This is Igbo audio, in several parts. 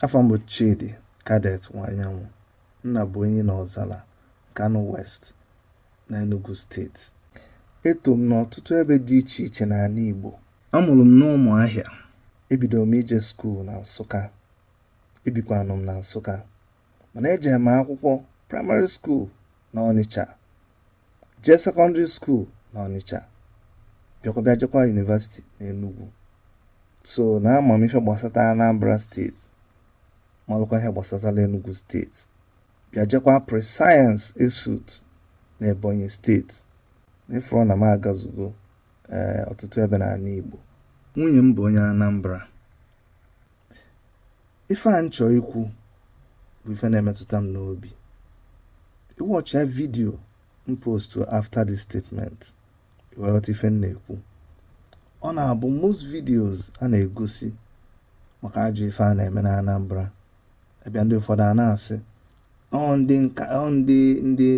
afa m bụ Chidi Cadet Nwanyanwụ nna bụ onye na Ọzara Nkanu West na Enugu steeti eto m n'ọtụtụ ebe dị iche iche n'anị Igbo a mụrụ m n'Ụmụahịa ebidoro m ije skuul na Nsụka ebikwanụ m na Nsụka mana ejere m akwụkwọ praịmarị skuul na Ọnịcha jee sekọndịrị skuul na Ọnịcha bịakwa bịa jekwa yunivasiti n'Enugwu so na ama m ife gbasata Anambra steeti malụkwa ihe gbasatara Enugwu steeti bịa jekwa pre-science ESUT na Ebonyi steeti n'ịfụrụ na m agazugo ee ọtụtụ ebe n'anị Igbo nwunye m bụ onye Anambra ife a m chọ ikwu bụ ife na-emetụta m n'obi ị wọchịa vidio m postu after this statement ị wee ghọta ife m na-ekwu ọ na-abụ most videos a na-egosi maka ajọ ife a na-eme na Anambra ebe ndị ụfọdụ a na-asị ndị nka ndị ndị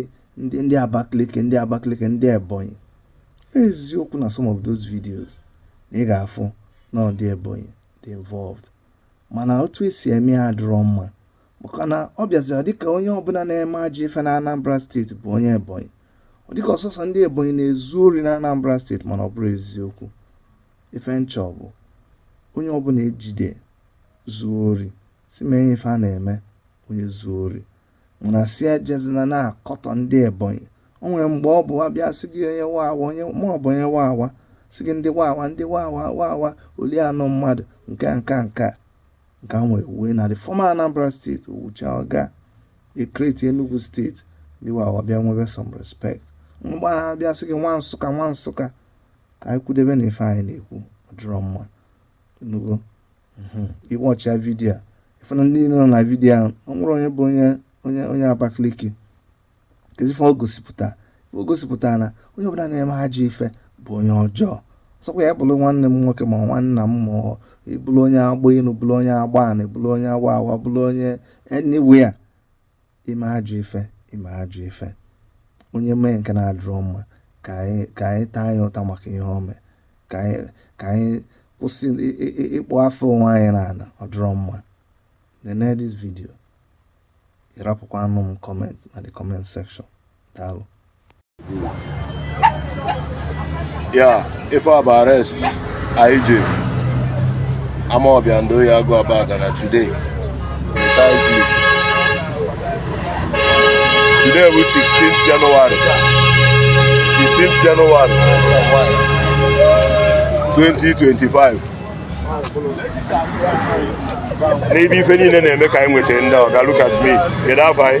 ndị ndị Abakaliki ndị Abakaliki ndị Ebonyi eziokwu na some of those videos na ị ga-afụ na ndị Ebonyi dị involved mana otu esi eme ya adịrọ mma maka na ọ bịazira dịka onye ọbụla na-eme ajọ ife na Anambra steeti bụ onye Ebonyi ọ dịka ọ sọọsọ ndị Ebonyi na-ezu ori na Anambra steeti mana ọ bụrọ eziokwu ife m chọ bụ onye ọbụla e jide zuo ori si mee ife a na-eme onye zuo ori mana sị ejezina na-akọtọ ndị ebonyi o nwere mgbe ọ bụ a bịa sị gị onye wawa onye ma ọ bụ onye wawa sị gị ndị wawa ndị wawa wawa oli anụ mmadụ nke a nke a nke a nke a nwere uwe na the former anambra steeti owucha ọga ekreti enugu steeti ndị wawa bịa nwebe some respect mgbe ha abịa sị gị nwa nsụka nwa nsụka ka anyị kwụdebe na ife anyị na-ekwu ọ dịrọ mma hmm, ị wọchịa vidiyo a ị fụ na ndị nọ na vidiyo ahụ ọ nwere onye bụ onye onye onye Abakaliki keezi ife o gosipụta o gosipụta na onye ọbụla na-eme ajọ ife bụ onye ọjọọ ọ sọkwa ya bụrụ nwanne m nwoke ma nwanna m ma ị bụrụ onye agba enu bụrụ onye agba anị bụrụ onye agba awa bụrụ onye anywhere ime ajọ ife ime ajọ ife onye mee nke na-adịrọ mma ka anyị ka anyị taa ya ụta maka ihe o mee ka anyị ka anyị kwụsị ịkpụ afa onwe anyị n'ana ọ dịrọ mma nene this video ị rapụkwanụ m comment na the comment section daalụ ya ife a bụ arrest anyị ji Amawbia and Oye Agu Abagana today precisely today bụ 16th January 16th January 2025 n'ebe ife niile na-eme ka anyị nweta ndị ọ ga look at me kedu afọ anyị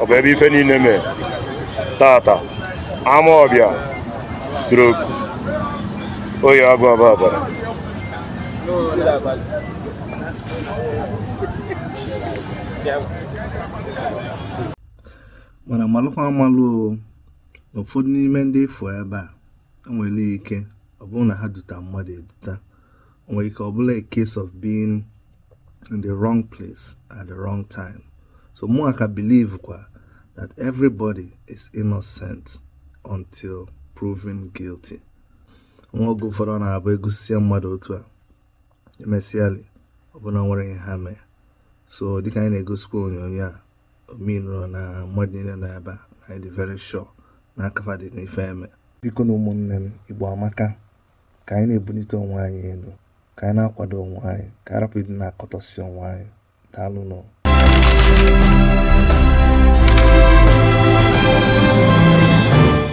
ọ bụ ebe ife niile mee tata Amawbia stroke Oye Agu Abagana mana malụkwa amalụ na ụfọdụ n'ime ndị ị fụ ebe a e nwere ike ọ bụrụ na ha duta mmadụ eduta nwere ike ọ bụlụ a case of being in the wrong place at the wrong time so mụwa ka believe kwa that everybody is innocent until proven guilty nwa oge ụfọdụ ọ na-abụ e gosisịa mmadụ otu a e mesịalị ọ bụ na nwere ihe ha mee so dịka anyị na-egosikwa onyonyo a ọ meanrọ na mmadụ niile nọ ebe a anyị dị very sure na aka fa dị n'ife e me bikonụ ụmụnne m Igbo amaka ka anyị na-ebunite onwe anyị enu ka anyị na-akwado onwe anyị ka a rapụ ịdị na-akọtọsị onwe anyị daalụ nụ